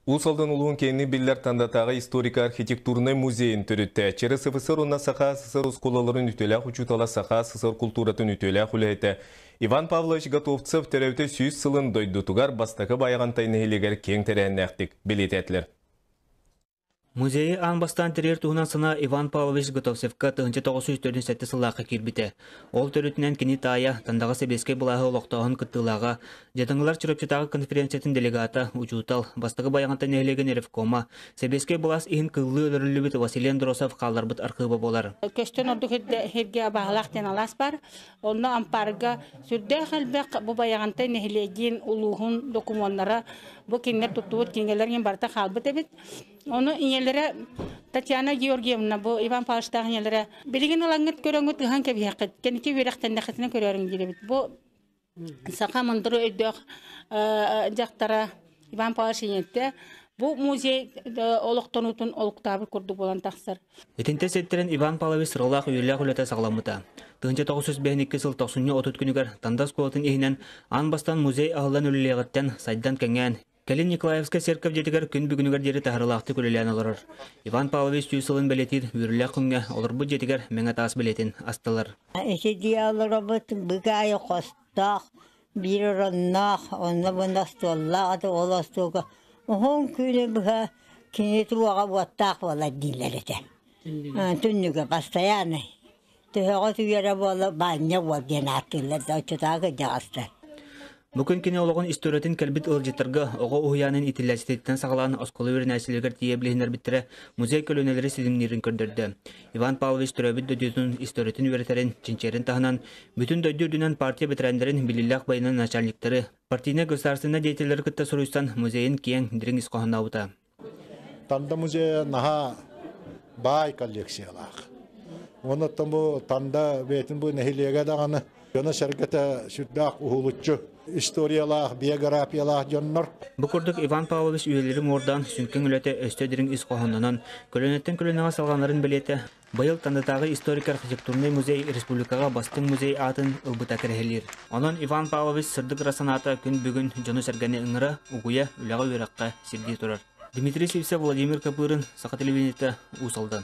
Уус Алдан улууһун киэҥник биллэр Тандатааҕы историко-архитектурнай музейын төрүттээччи, СССР уонна Саха СССР оскуолаларын үтүөлээх учуутала, Саха СССР култууратын үтүөлээх үлэһитэ Иван Павлович Готовцев төрөөтө сүүс сылын дойдутугар бастакы Байаҕантай нэһилиэгэр киэҥ тэрээһиннээхтик бэлиэтээтилэр. Музейы аан бастаан тэрийэр туһунан сана Иван Павлович Готовцевка тыһыынча тоҕус сүүс төрдүн сэттэ сыллаахха киирбитэ. Ол төрүтүнэн кини таайа, Тандаҕа сэбиэскэй былааһы олохтооһун кыттыылааҕа, Дьатаҥылар Чурапчытааҕы конференциятын делегата, учуутал, бастакы Байаҕантан нэһилиэгин ревкома, сэбиэскэй былаас иһин кыллыы өлөрүллүбүт Василиан Дросов хаалларбыт архыыба буолар. Көстөн ордук сиргэ абаһалаах диэн алаас бар. Онно ампаарга сүрдээх элбэх бу Байаҕантай нэһилиэгин улууһун докумуоннара бу кинилэр туттубут кинигэлэр иин барыта хаалбыт эбит. Ону ийэлэрэ Татьяна Георгиевна бу Иван Павловичтаах ийэлэрэ билигин ылаҥҥыт көрөҥҥүт ыһан кэбиһиэххит кэнники үөрэхтэннэххитинэ көрөөрүҥ диир эбит. Бу саха мындыры өйдөөх дьахтара Иван Павлович Инетте бу музей олохтонуутун олуктаабыт курдук буолан тахсар. Итинтэ ситтэрин Иван Павлович сыралаах үөрүүлээх үлэтэ саҕаламмыта. 1952 сыл тохсунньу отут күнүгэр Танда оскуолатын иһинэн аан бастан музей аһыллан үлэлиэҕиттэн сайдан кэҥээн, кэлин Николаевскай церковь дьиэтигэр күн бүгүнүгэр диэри таһарылаахтык үлэлээн олорор. Иван Павлович сүүс сылын бэлиэтиир үөрүүлээх күҥҥэ олорбут дьиэтигэр мэҥэ таас бэлиэтин астылар. Ити диалоробут быгайы хостоох, Биир оронноох, онно-бунна остуоллаах аты ол остуолга уһун күүлэ быһа кини туруоҕа буоттаах буолар дииллэр этэ. Түннүгэ бастайааны төһөҕөс үйэрэ буола баанньа буол диэн ааттыыллар да оччотааҕы кырдьаҕастар. Бу күн кини олоҕун историятын кэлбит ыалдьыттарга оҕо уһуйаанын итиллээччититтэн саҕалаан оскуола үөрэнээччилэригэр тиийэ билиһиннэрбиттэрэ музей көлүөнэлэри ситимниирин көрдөрдө. Иван Павлович төрөөбүт дойдутун историятын үөрэтэрин, чинчээрин таһынан бүтүн дойду үрдүнэн партия бэтэрээннэрин, биллиилээх байынын начальниктары, партийнай государственнай деятеллэри кытта суруйсан музейын киэҥ, дириҥ ис хоһоонообута. Танда музейа наһаа баай коллекциялаах. Онуттан бу Танда бэйтин бу нэһилиэгэ даҕаны Дьоно-сэргэтэ сүрдээх уһулуччу историялаах, биографиялаах дьоннор. Бу курдук Иван Павлович үйэлири муордаан сүҥкэҥ үлэтэ өстө дириҥ ис хоһоонунан, көлүөнэттэн көлүөнэҕэ салҕанарын бэлиэтэ, быйыл Тандатааҕы историк-архитектурнай музей республикаҕа Бастыҥ музей аатын ылбыта кэрэһилиир. Онон Иван Павлович сырдык ыра санаата күн бүгүн дьону-сэргэни ыҥыра, угуйа, үлэҕэ-үөрэххэ сирдии турар. Дмитрий Сивцев, Владимир Копырин, Саха телевидениетэ, Уус Алдан.